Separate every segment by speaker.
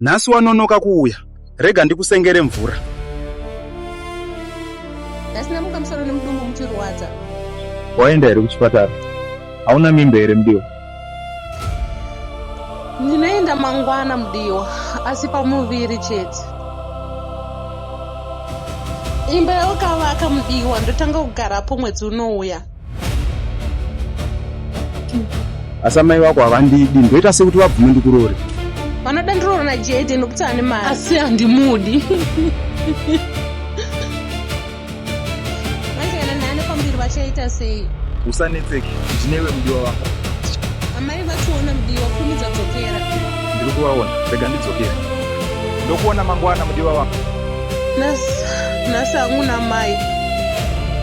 Speaker 1: Nhasi wanonoka kuuya, rega ndikusengere mvura.
Speaker 2: Nhasi ndamuka musoro nemudumbu muchirwadza. Waenda
Speaker 3: here kuchipatara? Hauna mimba here mudiwa?
Speaker 2: Ndinoenda mangwana mudiwa, asi pamuviri chete. Imba yawakavaka mudiwa ndotanga kugarapo mwedzi unouya.
Speaker 1: asi amai vako havandidi ndoita sekuti vabvume ndikurore vanoda ndiroro
Speaker 2: najede nokuti ane mari asi handimudi vangaenda nane kwambiri vachaita sei usanetseki
Speaker 3: ndinewe mudiwa wako amai
Speaker 2: vationa mudiwa kurumidza kudzokera ndiri kuvaona
Speaker 3: rega ndidzokera ndokuona mangwana mudiwa wako
Speaker 2: nhasi hangu namai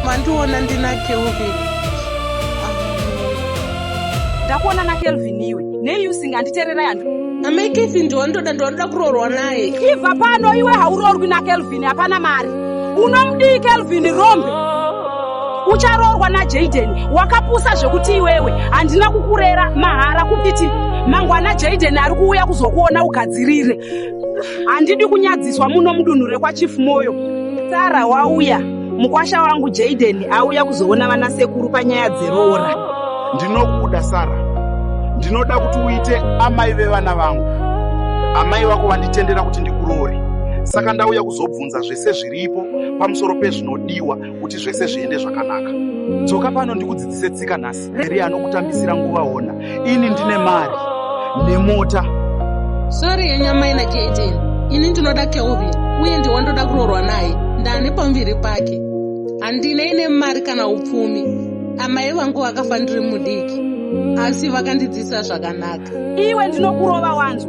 Speaker 2: mandiona ndina kelvin
Speaker 4: ndakuona nakelvin iwe nei usinganditererai handi amai kelvin
Speaker 2: ndiwandoda ndiwandoda kuroorwa naye ibva pano iwe
Speaker 4: hauroorwi nakelvin hapana mari unomdii kelvin rombe ucharoorwa najaden wakapusa zvekuti iwewe handina kukurera mahara kupiti mangwana jaden ari kuuya kuzokuona ugadzirire handidi kunyadziswa muno mudunhu rekwachief moyo sara wauya mukwasha wangu jaden auya kuzoona vana sekuru panyaya dzeroora ndinokuda
Speaker 1: sara ndinoda kuti uite amai vevana vangu amai vako vanditendera kuti ndikuroore saka ndauya kuzobvunza zvese zviripo pamusoro pezvinodiwa kuti zvese zviende zvakanaka dzoka pano ndikudzidzise tsika nhasi eri anokutambisira nguva hona ini ndine mari nemota
Speaker 2: sori yenyamai na jn ini ndinoda kelvin uye ndiwa ndoda kuroorwa naye ndane pamuviri pake handina ine mari kana upfumi amai vangu vakafa ndiri mudiki asi vakandidzisa zvakanaka iwe ndinokurova
Speaker 4: wanzwa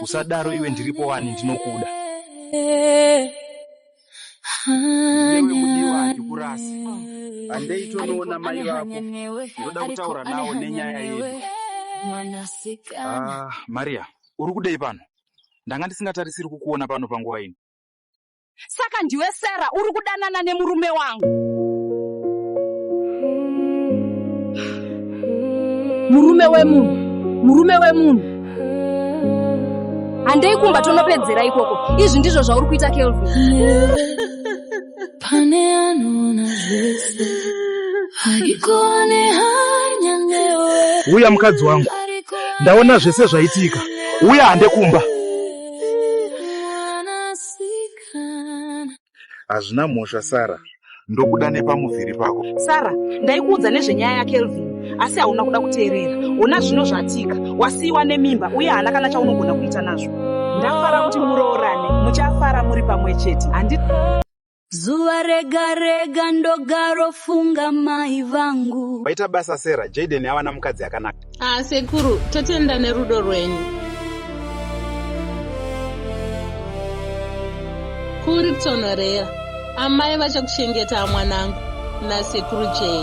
Speaker 3: usadaro iwe ndiripo wani ndinokuda newe mudiwa handikurasi handei
Speaker 1: tonoona mai vako ndoda kutaura nawo nenyaya yedu ah,
Speaker 3: maria uri kudei pano ndanga ndisingatarisiri kukuona pano panguva ino Saka
Speaker 4: ndiwe Sarah uri kudanana nemurume wangu. Murume wemunhu, murume wemunhu. Handei kumba tonopedzera ikoko. Izvi ndizvo zvauri kuita Kelvin.
Speaker 5: Pane anoona zvese. Haikuone hanya newe. Huya mukadzi wangu.
Speaker 1: Ndaona zvese zvaitika. Huya hande kumba. Hazvina mhosva Sarah, ndokuda nepamuviri pako. Sarah, ndaikuudza
Speaker 4: nezvenyaya yaKelvin asi hauna kuda kuteerera. Hona zvino zvatika, wasiiwa nemimba uye haana kana chaunogona kuita nazvo. Ndafara kuti muroorane, muchafara muri pamwe chete. Handi
Speaker 5: Zuva rega rega ndogaro funga mai vangu. Waita basa Sarah,
Speaker 1: Jaden awana mukadzi akanaka. Ah sekuru,
Speaker 2: totenda nerudo rwenyu. Kuri kutonhorera. Amai vachakuchengeta mwanangu nasekuru Jay.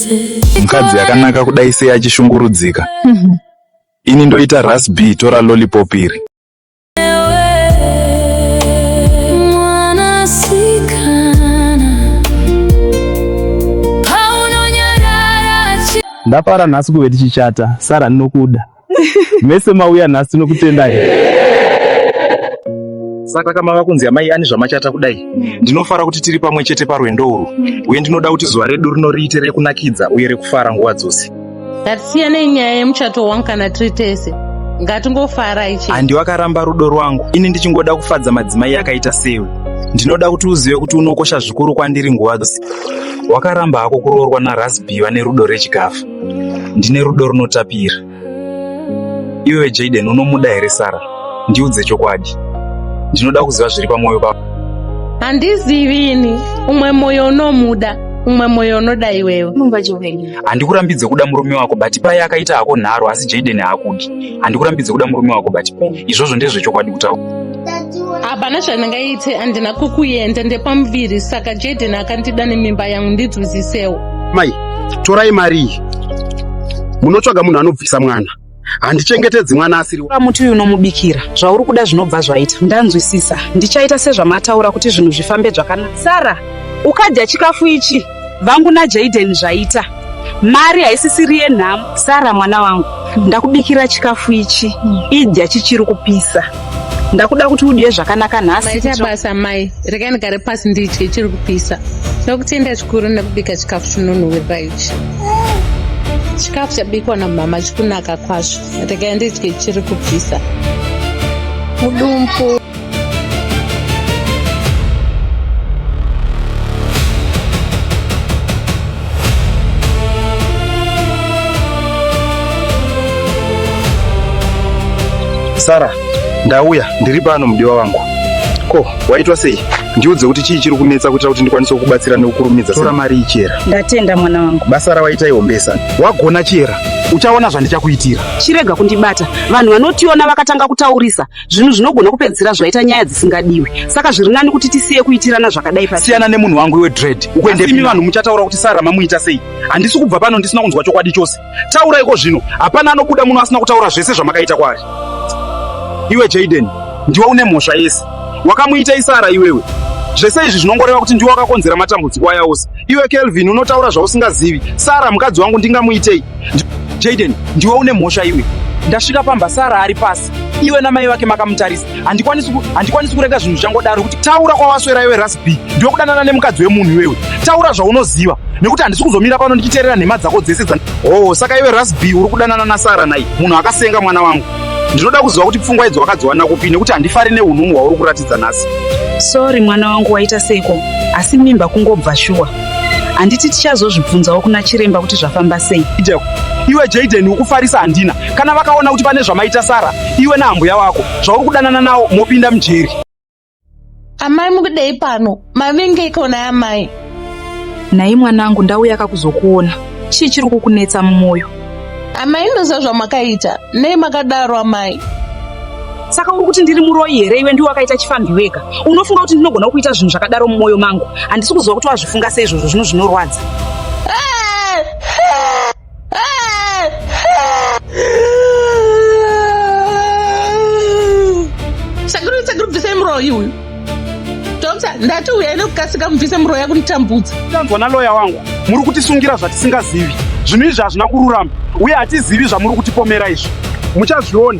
Speaker 5: mukadzi yakanaka
Speaker 3: kudai sei achishungurudzika mhm. ini ndoita rasb tora lollipop iri
Speaker 6: ndafara nhasi kuve tichichata sara ndinokuda mese mauya nhasi tinokutendai
Speaker 3: saka kama vakunzi amai ani zvamachata kudai ndinofara kuti tiri pamwe chete parwendo urwu uye ndinoda kuti zuva redu rino riite rekunakidza uye rekufara nguva dzose ngatisiyanei
Speaker 2: nyaya yemuchato wangu kana tiri tese ngatingofarai chete handi wakaramba rudo
Speaker 3: rwangu ini ndichingoda kufadza madzimai akaita sewe ndinoda kuti uzive kuti unokosha zvikuru kwandiri nguva dzose wakaramba hako kuroorwa narasbi vane rudo rechikafu ndine rudo runotapira. Iwewe Jaden unomuda here Sara? Ndiudze chokwadi. Ndinoda kuziva zviri pamwoyo pako. Handizivi
Speaker 2: ini, umwe mwoyo unomuda, umwe mwoyo unoda iwewe. Mumba Joven. Handikurambidze
Speaker 3: kuda murume wako but paye akaita hako nharo asi Jaden haakudi. Handikurambidze kuda murume wako but izvozvo ndezvechokwadi kutaura. hapana
Speaker 2: zvandingaite handina kukuenda ndepamuviri saka jaden akandida nemimba yangu ndidzwizisewo mai
Speaker 1: torai mari iyi munotsvaga munhu anobvisa mwana handichengetedzi mwana asiri muti uyu unomubikira
Speaker 4: zvauri kuda zvinobva zvaita ndanzwisisa ndichaita sezvamataura kuti zvinhu zvifambe zvakanaka sara ukadya chikafu ichi vangu naJaden zvaita mari haisisiri yenhamo sara mwana wangu ndakubikira chikafu ichi idya chichiri kupisa ndakuda kuti udye zvakanaka nhasiita basa mai
Speaker 2: rekai ndigare pasi ndidye chiri kupisa ndakutenda zvikuru nekubika chikafu chinonhuwirira ichi chikafu chabikwa namama chikunaka kwazvo rekai ndidye chiri kupisa mudumbu
Speaker 1: Sara, ndauya ndiri pano mudiwa wangu. Ko, waitwa sei? Ndiudze kuti chii chiri kunetsa kuitira kuti ndikwanise kukubatsira nekukurumidza. Tora mari ichera. Ndatenda mwana wangu.
Speaker 4: Basa rawaita ihombesa.
Speaker 1: Wagona chera. Uchaona zvandichakuitira. Chirega kundibata.
Speaker 4: Vanhu vanotiona vakatanga kutaurisa. zvinhu zvinogona kupedzisira zvaita nyaya dzisingadiwi saka zviri nani kuti tisiye kuitirana zvakadai pasiyana nemunhu wangu iwe dread
Speaker 1: ukuendemi vanhu muchataura kuti sara mamuita sei handisi kubva pano ndisina kunzwa chokwadi chose taura iko zvino hapana anobuda muno asina kutaura zvese zvamakaita kwaari iwe jaden ndiwe une mhosva yese wakamuita isara iwewe zvese izvi zvinongoreva kuti ndiwe wakakonzera matambudziko aya ose iwe kelvin unotaura zvausingazivi sara mukadzi wangu ndingamuitei jaden ndiwe une mhosva iwe ndasvika pamba sara ari pasi iwe namai vake makamutarisa handikwanisi handikwanisi kurega zvinhu zvangodaro kuti taura kwawaswera iwe rasb ndiwe kudanana nemukadzi wemunhu iwewe taura zvaunoziva nekuti handisi kuzomira pano ndichiteerera nhema dzako dzese dza oh saka iwe rasb uri kudanana nasara nai munhu akasenga mwana wangu ndinoda kuziva kuti pfungwa idzo wakadziwana kupi nekuti handifari neunhumu hwauri kuratidza nhasi sori mwana
Speaker 4: wangu waita seko asi mimba kungobva shuwa handiti tichazozvibvunzawo kuna chiremba kuti zvafamba sei iwe
Speaker 1: jaden ukufarisa handina kana vakaona kuti pane zvamaita sara iwe naambuya wako zvauri kudanana nawo mopinda mujeri
Speaker 2: amai mukudei pano mavenge ikona yamai nhai
Speaker 4: mwanangu ndauya kakuzokuona chii chiri kukunetsa mumwoyo amai ndoziva
Speaker 2: zvamakaita nei makadaro amai saka
Speaker 4: uri kuti ndiri muroyi here iwe ndiwe wakaita chifanhi wega unofunga kuti ndinogona kuita zvinhu zvakadaro mumwoyo mangu handisi kuziva kuti wazvifunga seizvozvo zvino zvinorwadza
Speaker 2: Sakuru, sakuru, bvisai muroyi uyu. Dokta, ndati uyai nekukasika mubvise muroyi yakunitambudza. Tanzwa naloya wangu,
Speaker 1: muri kutisungira zvatisingazivi. Zvinhu izvi hazvina kururama uye hatizivi zvamuri kutipomera izvi. Muchazviona.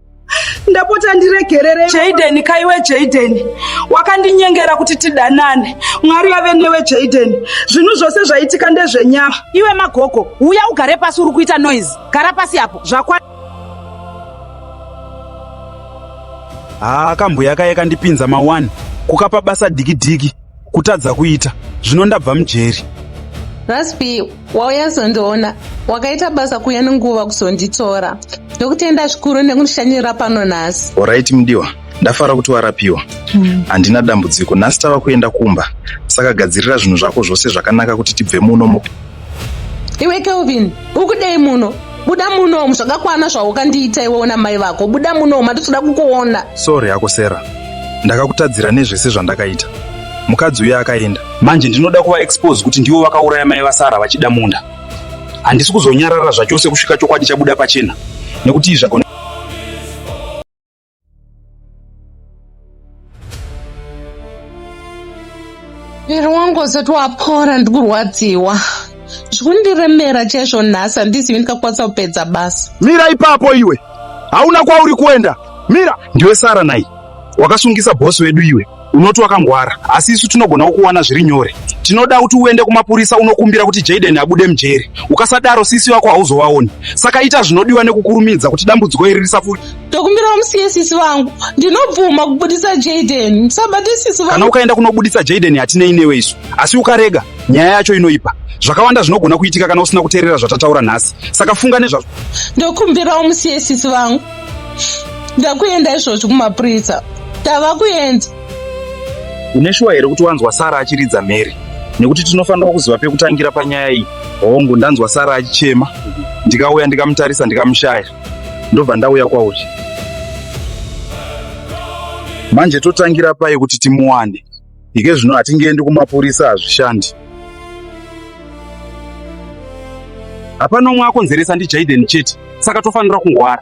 Speaker 4: ndapota ndiregerere jaden kaiwe jaden wakandinyengera kuti tidanane mwari vave newe jaden zvinhu zvose zvaitika ndezvenyama iwe magogo uya ugare pasi uri kuita noise gara pasi apo zvakwa
Speaker 1: haa kambuya kaye kandipinza ma1 kukapa basa dikidiki kutadza kuita zvino ndabva mujeri raspi
Speaker 2: wauya zondiona wakaita basa kuya nenguva kuzonditora ndokutenda zvikuru nekundishanyirira pano nhasi orit mudiwa
Speaker 3: ndafara kuti warapiwa hmm. handina mm. dambudziko nhasi tava kuenda kumba saka gadzirira zvinhu zvako zvose zvakanaka kuti tibve muno
Speaker 2: iwe kelvin ukudei muno buda munomu zvakakwana zvaukandiita iwe una mai vako buda munomu hatitoda kukuona sorry hako sera
Speaker 3: ndakakutadzira nezvese zvandakaita mukadzi uye akaenda manje ndinoda kuva expose kuti ndivo vakauraya mai vasara vachida munda handisi kuzonyarara zvachose kusvika chokwadi chabuda pachena nekuti izvagona
Speaker 2: muviri wangu usati wapora ndikurwadziwa zvikundiremera chaizvo nhasi handizivi ndikakwanisa kupedza basa mira ipapo iwe
Speaker 1: hauna kwauri kuenda mira ndiwe sara nai
Speaker 3: wakasungisa bhosi wedu iwe Unoti wakangwara, asi isu tinogona kukuwana zviri nyore. Tinoda kuti uende kumapurisa unokumbira kuti Jaden abude mujeri. Ukasadaro sisi vako hauzovaoni. Saka ita zvinodiwa nekukurumidza kuti dambudziko iri risapfuure. Ndokumbirawo musiye
Speaker 2: sisi vangu. Ndinobvuma kubudisa Jaden. Musabate sisi vangu. Kana ukaenda kunobudisa Jaden
Speaker 3: hatinei newe isu. Asi ukarega, nyaya yacho inoipa. Zvakawanda zvinogona kuitika kana usina kuteerera zvatataura nhasi. Saka funga nezvazvo. Ndokumbirawo
Speaker 2: musiye sisi vangu. ndakuenda izvozvi kumapurisa tava kuenda
Speaker 3: une shuwa here kuti wanzwa sara achiridza mary nekuti tinofanira kuziva pekutangira panyaya iyi hongu ndanzwa sara achichema ndikauya ndikamutarisa ndikamushaya ndobva ndauya kwauri manje totangira pai kuti timuwane ike zvino hatingeendi kumapurisa hazvishandi hapana umwe akonzeresa ndijaiden chete saka tofanira kungwara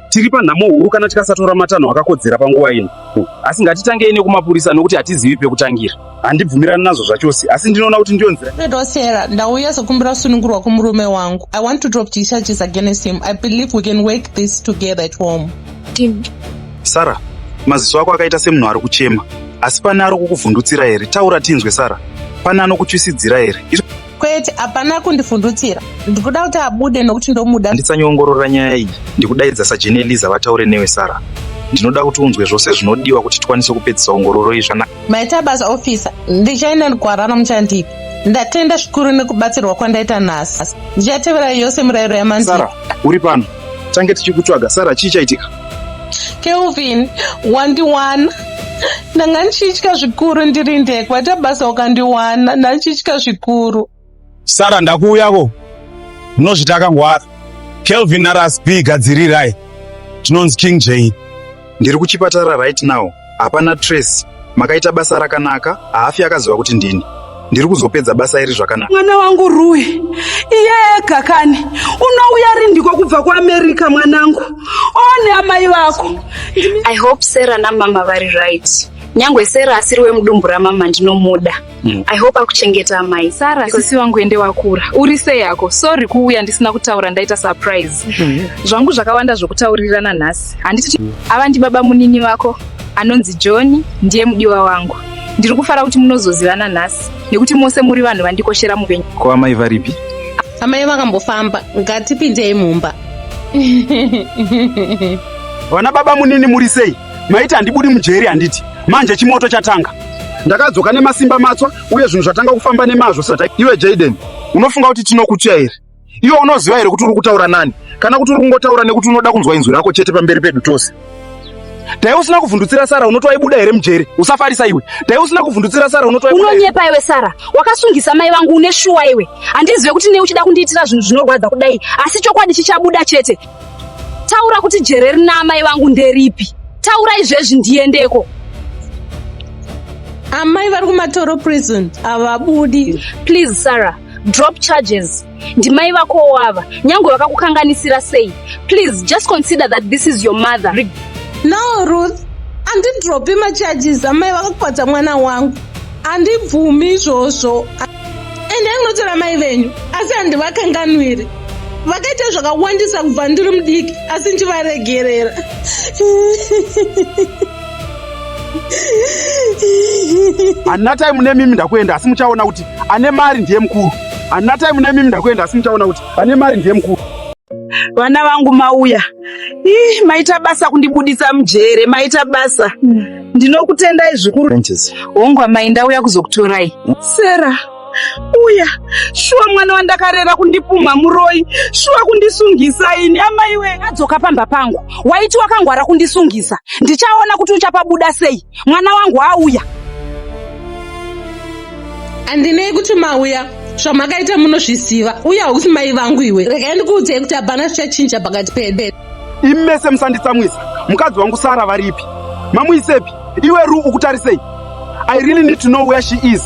Speaker 3: tiri panhamo huru kana tikasatora matanho akakodzera panguva ino asi ngatitange ine kumapurisa nokuti hatizivi pekutangira handibvumirani nazvo zvachose asi ndinoona kuti ndiyo nzira redo sera ndauya
Speaker 2: sokumbira kusunungurwa kumurume wangu i want to drop thecharges against him i believe we can work this together at home Tim.
Speaker 3: Sara, maziso ako akaita semunhu ari kuchema. Asi pane ari kukuvhundutsira here? Taura tinzwe Sara. Pane anokutyisidzira here? Kwete, hapana
Speaker 2: kundivhundutsira. Ndikuda kuti abude nokuti ndomuda. Ndisanyongorora nyaya iyi.
Speaker 3: Ndikudaidza sajeni Eliza vataure newe Sara. Ndinoda kuti unzwe zvose zvinodiwa kuti tikwanise kupedzisa ongororo iyi zvanaka. Maita basa officer.
Speaker 2: Ndichaenda gwara ramuchandipa. Ndatenda zvikuru nekubatsirwa kwandaita nhasi. Ndichateverai yose murayiro yamandira. Sara, uri pano.
Speaker 3: tange tichikutsvaga sara chii chaitika kelvin
Speaker 2: wandiwana ndanga ndichitya zvikuru ndiri ndege waita basa ukandiwana ndandichitya zvikuru sara
Speaker 6: ndakuuyako munozvita akangwara kelvin narasb gadzirirai tinonzi king jane ndiri kuchipatara
Speaker 3: right now Hapana Tracy, makaita basa rakanaka, haafi akaziva kuti ndini. Ndiri kuzopedza basa iri zvakanaka. Mwana wangu Rue,
Speaker 4: iye ega kani unouya rindiko kubva kuAmerica mwanangu. One amai vako. I hope
Speaker 7: Sarah namama vari right. Nyangwe Sarah asiri wemudumbu ramama ndinomuda. Mm. I hope akuchengeta amai. Sara sisi wangu ende
Speaker 8: wakura. Uri sei yako? Sorry kuuya ndisina kutaura ndaita surprise. Mm. Zvangu zvakawanda zvokutaurirana nhasi. Handiti mm. ava ndi baba munini vako anonzi John ndiye mudiwa wangu. Ndiri kufara kuti munozozivana nhasi nekuti mose muri vanhu vandikoshera mupenyu. Ko amai varipi?
Speaker 3: Amai
Speaker 2: vakambofamba. Ngatipindei mumba.
Speaker 1: Vana baba munini muri sei? maiti handibudi mujeri handiti manje chimoto chatanga ndakadzoka nemasimba matswa uye zvinhu zvatanga kufamba nemazvo sata iwe jaden unofunga kuti tinokutya here iwe unoziva here kuti uri kutaura nani kana kuti uri kungotaura nekuti unoda kunzwa inzwi rako chete pamberi pedu tose dai usina kuvhundutsira sara unoti waibuda here mujeri usafarisa iwe dai usina kuvhundutsira sara unoti unonyepa iwe sara
Speaker 7: wakasungisa mai vangu une shuwa iwe handizive kuti nei uchida kundiitira zvinhu zvinorwadza kudai asi chokwadi chichabuda chete Taura kuti jere rina amai vangu nderipi? Taura izvezvi ndiendeko.
Speaker 2: Amai vari kumatoro prison havabudi. Please Sarah,
Speaker 7: drop charges. Ndimai vako wava, nyange vakakukanganisira sei. Please just consider that this is your mother. Re no
Speaker 2: Ruth, andidropi macharges amai vakakwadza mwana wangu. Andibvumi izvozvo. endai munotora mai venyu asi handivakanganwiri vakaita zvakawandisa kubva ndiri mudiki asi ndivaregerera
Speaker 1: hanina time nemimi ndakuenda asi muchaona kuti ane mari ndiye mukuru hanina time nemimi ndakuenda asi muchaona kuti ane mari ndiye mukuru vana
Speaker 4: vangu mauya ih maita basa kundibudisa mujere maita basa mm. ndinokutendai
Speaker 8: zvikuru
Speaker 4: hongu
Speaker 8: amai ndauya
Speaker 3: kuzokutorai
Speaker 8: sera uya
Speaker 4: shuwa mwana wandakarera kundipumha muroyi shuwa kundisungisa ini amai we adzoka pamba pangu waiti wakangwara kundisungisa ndichaona kuti uchapabuda sei mwana wangu auya
Speaker 2: andinei kuti mauya zvamakaita munozviziva uye hausi mai vangu iwe regai ndikuudzei kuti hapana zvichachinja pakati pedu imi mese
Speaker 1: musanditsamwisa mukadzi wangu sara varipi mamuisepi iwe ru ukutarisei i really need to know where she is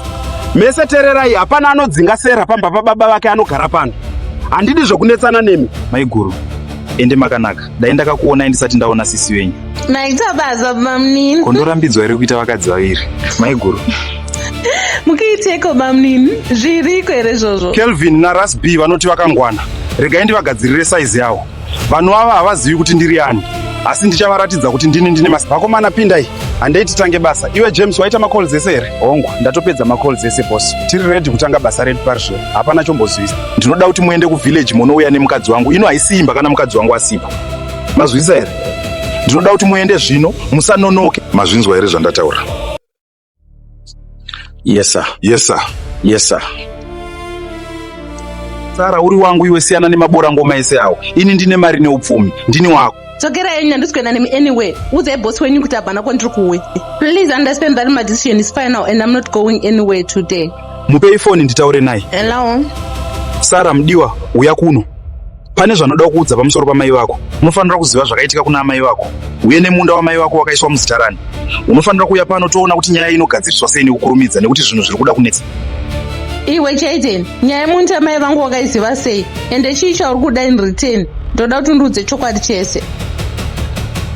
Speaker 1: mese tererai hapana anodzinga sera pamba pababa vake anogara pano handidi zvekunetsana nemi maiguru
Speaker 3: ende makanaka dai ndakakuonai ndisati ndaona sisi venyu naitabaza
Speaker 2: bamnini kondorambidzwa here kuita
Speaker 3: vakadzi vaviri maiguru
Speaker 2: mukiiteko bamnini zviriko here zvozvo kelvin narasb
Speaker 1: vanoti vakangwana regai ndivagadzirire saizi yawo Vanhu ava havazivi kuti ndiri ani, asi ndichavaratidza kuti ndini ndine masi. Vakomana, pindai, handei titange basa. Iwe James, waita macalls ese here? Hongu, ndatopedza macalls ese boss. Tiri ready kutanga basa redu parizvo, hapana chombozivisa. Ndinoda kuti muende kuvillage monouya nemukadzi wangu. Ino haisi imba kana mukadzi wangu asipo. Mazwisa here? Ndinoda kuti muende zvino, musanonoke. Mazvinzwa here zvandataura? Yes sir. Yes sir. Yes
Speaker 9: sir.
Speaker 3: Sara uri wangu iwe siyana nemabora ngoma ese awo. Ini ndine mari neupfumi. Ndini wako. Dzokera henyu handisi kuenda
Speaker 2: nemi anyway. Udzai boss wenyu kuti abvana kwandiri kuwe. Please understand that my decision is final and I'm not going anywhere today. Mupei phone
Speaker 3: nditaure naye. Hello.
Speaker 2: Sara
Speaker 3: mdiwa uya kuno. pane zvanoda kuudza pamusoro pamai vako unofanira kuziva zvakaitika kuna amai vako uye nemunda wamai vako wakaiswa muzita rani unofanira kuuya pano toona kuti nyaya inogadziriswa sei nekukurumidza nekuti zvinhu zviri kuda kunetsa iwe
Speaker 2: chaiden nyaya yemunti amai vangu wakaiziva sei ende chii chauri kuda in return ndoda kuti undiudze chokwadi chese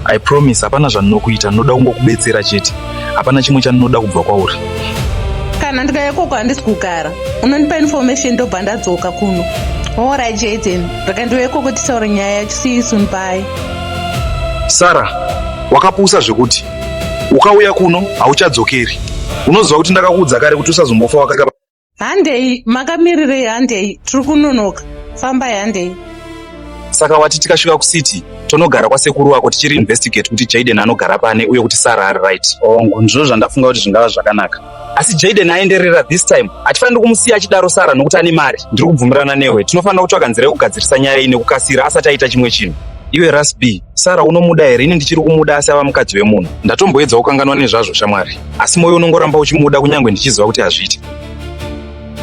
Speaker 3: i promise hapana zvandinokuita ndinoda kungokubetsera chete hapana chimwe chandinoda kubva kwauri kana
Speaker 2: ndikauya koko handisi kugara unondipa information ndobva ndadzoka kuno ora jaden raka ndiuye koko tisaura nyaya yacho siisun pai
Speaker 3: sara wakapusa zvekuti ukauya kuno hauchadzokeri unoziva kuti ndakakuudza kare kuti usazombofa wakaka handei
Speaker 2: makamirirei handei tiri kunonoka fambai handei saka
Speaker 3: wati tikasvika kucity tonogara kwasekuru wako tichiri investigate kuti jaden anogara pane uye kuti sara ari right hongu oh, ndizvo zvandafunga kuti zvingava zvakanaka asi jaden aenderera this time hatifaniri kumusiya achidaro sara nokuti ane mari ndiri kubvumirana newe tinofanira kutsvaga nzira yekugadzirisa nyaya iyi nekukasira asati aita chimwe chinhu iwe rasb sara unomuda here ini ndichiri kumuda asi ava mukadzi wemunhu ndatomboedza kukanganwa nezvazvo shamwari asi moyo unongoramba uchimuda kunyange ndichiziva kuti hazviiti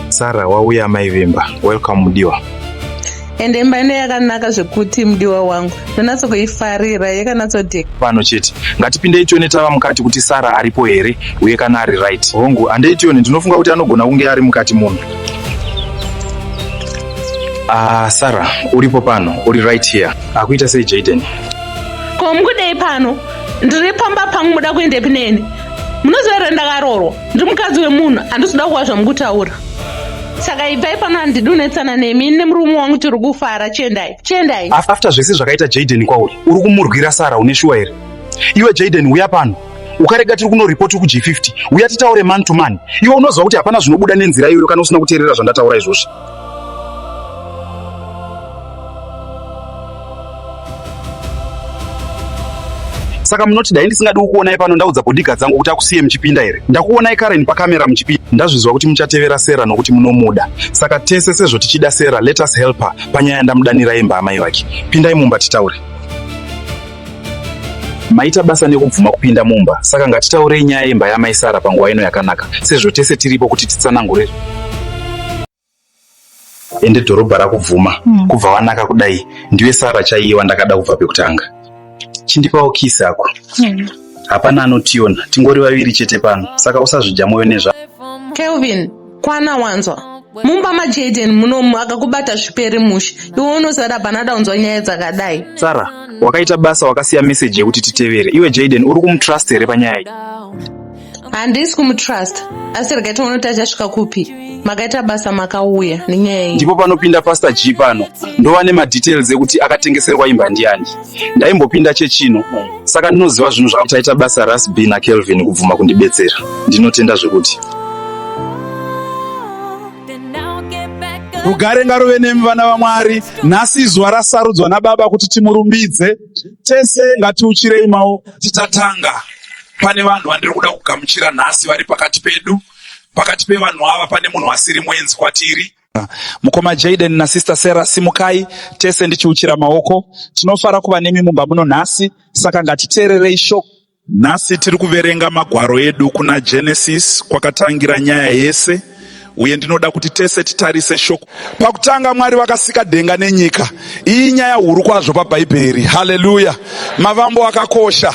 Speaker 3: sara wauya amai vemba welcome mudiwa ende
Speaker 2: imba ine yakanaka zvekuti mudiwa wangu ndonatso kuifarira yakanatsodeka pano chete
Speaker 3: ngatipindei tione tava mukati kuti sara aripo here uye kana ari right hongu handei tione ndinofunga kuti anogona kunge ari mukati munhu ah sara uripo pano uri right here akuita sei jaden ko
Speaker 2: mukudei pano ndiri pamba pangu muda kuendepi neni munoziva here ndakarorwa ndiri mukadzi wemunhu handisida kuva zvamukutaura saka ibvai pano handidunetsana nemi nemurume wangu tiri kufara chiendai chiendai after zvese zvakaita
Speaker 3: jaden kwauri uri kumurwira sara une shuwa here iwe jaden uya pano ukarega tiri kunoripoti kug 50 uya titaure man to man iwe unoziva kuti hapana zvinobuda nenzira iyoyo kana usina kuteerera zvandataura izvozvi saka munoti dai ndisingadi kukuonai pano ndaudza bhodhiga dzangu kuti akusiye muchipinda here ndakuonai karen pakamera muchipinda ndazvinzwa kuti muchatevera sera nokuti munomuda saka tese sezvo tichida sera let us help her panyaya yandamudanira yemba amai vake pindai mumba titaure Maita basa nekubvuma kupinda mumba, saka ngatitaurei nyaya yemba yamai Sara panguva ino yakanaka, sezvo tese tiripo kuti titsanangure ende dhorobha rakubvuma mm. kubva wanaka kudai ndiwe Sara chaiye wandakada kubva pekutanga. Chindipawo kisi ako. Mm. Hapana anotiona, tingori vaviri chete pano, saka usazvidya mwoyo nezva. Kelvin,
Speaker 2: kwana wanzwa mumba majaden munomu akakubata zviperi mushe iwe unosara panada unzwa nyaya dzakadai sara wakaita
Speaker 3: basa wakasiya meseji yekuti titevere iwe jaden uri kumutrust here panyaya iyi handisi
Speaker 2: kumutrust asi regai tione kuti achasvika kupi makaita basa makauya nenyaya iyi ndipo panopinda pastor g
Speaker 3: pano ndova nemadetails ekuti akatengeserwa imba ndiani ndaimbopinda chechino saka ndinoziva zvinhu zvakutaita basa rasb nakelvin kubvuma kundibetsera ndinotenda zvekuti
Speaker 1: rugare ngaruve nemi vana vamwari nhasi izuva rasarudzwa nababa kuti timurumbidze tese ngatiuchirei mawo tichatanga
Speaker 9: pane vanhu vandiri kuda kugamuchira nhasi vari pakati pedu pakati pevanhu ava pane munhu asiri mwenzi kwatiri Mukoma Jaden na Sister Sarah simukai tese ndichiuchira maoko. Tinofara kuva nemi mumba muno nhasi, saka ngatiteererei shoko. Nhasi tiri kuverenga magwaro edu kuna Genesis kwakatangira nyaya yese uye ndinoda kuti tese titarise shoko. Pakutanga Mwari vakasika denga nenyika. Iyi nyaya huru kwazvo paBhaibheri. Haleluya. Mavambo akakosha.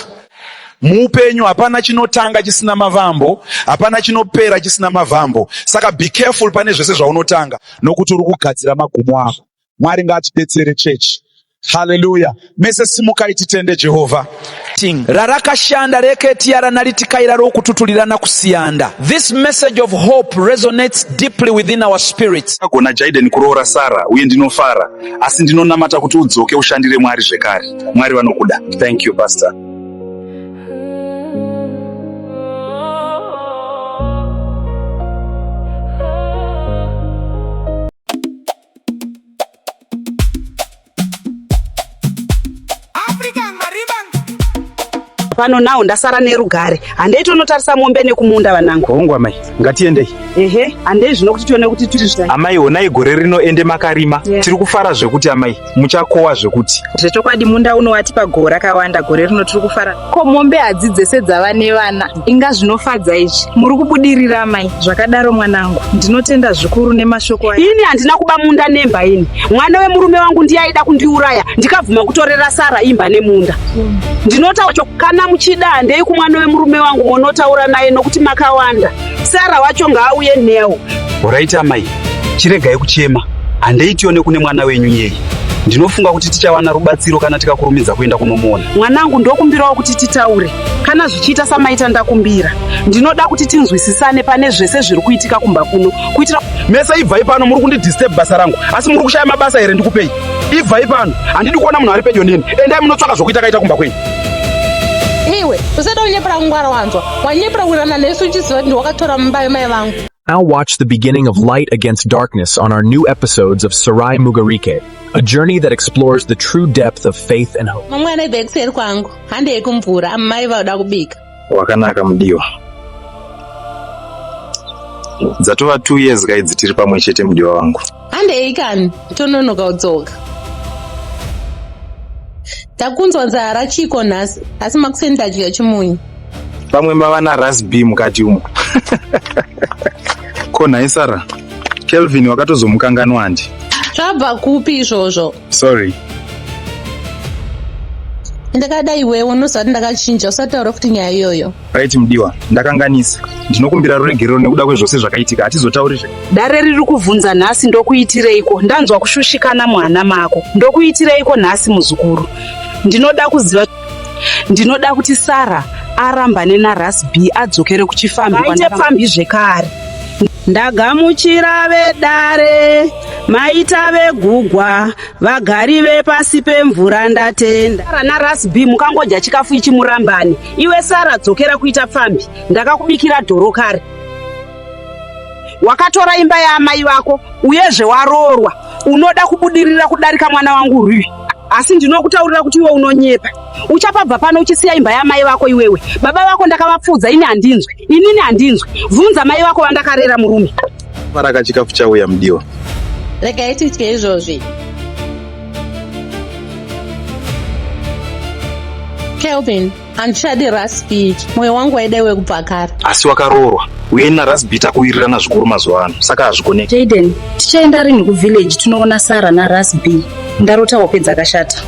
Speaker 9: Muupenyu hapana chinotanga chisina mavambo, hapana chinopera chisina mavambo. Saka be careful pane zvese zvaunotanga nokuti uri kugadzira magumo ako. Mwari ngaatibetsere chechi. Haleluya. Mese simukai titende Jehovha. Ting. Rarakashanda
Speaker 10: reketia ranalitikaira rokututurirana kusiyanda. This message of hope resonates deeply within our spirits. Ndakagona Jaden kuroora
Speaker 3: Sarah uye ndinofara asi ndinonamata kuti udzoke ushandire Mwari zvekare. mwari vanokuda thank you pastor
Speaker 4: pano nawo ndasara nerugare handei tonotarisa mombe nekumunda vanangu hongu amai ngatiendei
Speaker 6: ehe handei
Speaker 4: zvino kuti tione kuti tiri amai honai gore rino
Speaker 6: ende makarima yeah. tiri kufara zvekuti amai muchakowa zvekuti zvechokwadi munda uno
Speaker 8: watipa goho rakawanda gore rino tiri kufara ko mombe hadzi dzese dzava nevana inga zvinofadza izvi muri kubudirira mai zvakadaro mwanangu ndinotenda zvikuru nemashoko aya ini handina kuba munda
Speaker 4: nemba ini mwana wemurume wangu ndiye aida kundiuraya ndikabvuma kutorera sara imba nemunda ndinotaura cho kana muchida handei kumwana wemurume wangu monotaura naye nokuti makawanda sara wacho ngaauye newo horaiti amai
Speaker 3: Chiregai kuchema, handei tione kune mwana wenyu yei. Ndinofunga kuti tichawana rubatsiro kana tikakurumidza kuenda kunomuona. Mwanangu, ndokumbirawo
Speaker 4: kuti titaure kana zvichiita samaita ndakumbira. Ndinoda kuti tinzwisisane pane zvese zviri kuitika kumba kuno kuitira mese ibvai pano
Speaker 1: muri kundidisturb basa rangu asi muri kushaya mabasa here ndikupei ibvai pano handidi kuona munhu ari pedyo neni endai munotsvaka zvokuita kaita kumba kwenyu
Speaker 2: iwe usada kunyepera kungwara wanzwa wanyepera kurana nesu uchiziva kuti wakatora mumba yemai vangu Now watch the
Speaker 11: beginning of Light Against Darkness on our new episodes of Sarai Mugarike, a journey that explores the true depth of faith and hope. Mamwe anaibva ekuseri kwangu,
Speaker 2: hande yekumvura, amai vauda kubika. Wakanaka mudiwa.
Speaker 3: Dzatova two years kaidzi tiri pamwe chete mudiwa wangu. handei kani
Speaker 2: tononoka udzoka takunzwa nzara chiko nhasi asi makuseni tadya chimunyu pamwe mava
Speaker 3: narasb mukati umo ko nhai sara kelvin wakatozomukanganwa handi zvabva kupi
Speaker 2: izvozvo
Speaker 3: sorry
Speaker 2: ndakada iwewe unozvati ndakachinja usataura kuti nyaya iyoyo right mudiwa
Speaker 3: ndakanganisa ndinokumbira ruregerero nekuda kwezvose zvakaitika hatizotaurizve dare riri kuvhunza
Speaker 4: nhasi ndokuitireiko ndanzwa kushushikana muhana mako ndokuitireiko nhasi muzukuru ndinoda kuziva ndinoda kuti sara arambane naras b adzokere kuchifambi kwaite pfambi zvekare ndagamuchira vedare maita vegugwa vagari vepasi pemvura ndatenda sara naras b mukangodya chikafu ichi murambane iwe sara dzokera kuita pfambi ndakakubikira dhoro kare wakatora imba yaamai vako uyezve waroorwa unoda kubudirira kudarika mwana wangu rui asi ndinokutaurira kuti iwe unonyepa uchapabva pano uchisiya imba yamai vako iwewe baba vako ndakavapfuudza ini handinzwe inini handinzwe bvunza mai vako vandakarera murume paraka chikafu
Speaker 3: chauya mudiwa regai
Speaker 2: titye izvozvi kelvin handichadi rasbit mwoyo wangu waida iwe kubva kare asi wakaroorwa
Speaker 3: uye narasbit akuwirirana zvikuru mazuva ano saka hazvigoneki jaden tichaenda
Speaker 8: rinhi kuvillage tinoona sara narasb ndarota hope dzakashata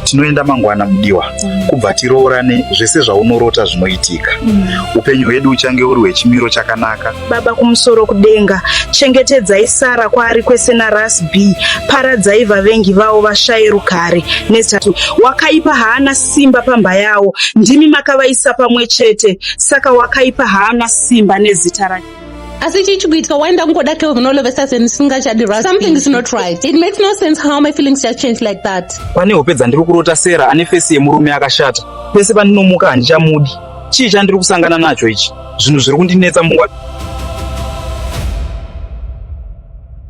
Speaker 8: tinoenda
Speaker 3: mangwana mudiwa mm. kubva tiroorane zvese zvaunorota zvinoitika mm. upenyu hwedu uchange uri hwechimiro chakanaka baba kumusoro
Speaker 8: kudenga chengetedzai sara kwaari kwese naras b paradzai vavengi vavo vashaye rugare nesati wakaipa haana simba pamba yawo ndimi makavaisa pamwe chete saka wakaipa haana simba nezita rake asi chii chikuitika
Speaker 2: why ndakungoda kevnolovesa senisingachadirwa something is not right it makes no sense how my feelings just change like that pane hope dzandiri
Speaker 3: kurota sera ane fesi yemurume akashata pese pandinomuka handichamudi chii chandiri kusangana nacho ichi zvinhu zviri kundinetsa mungwa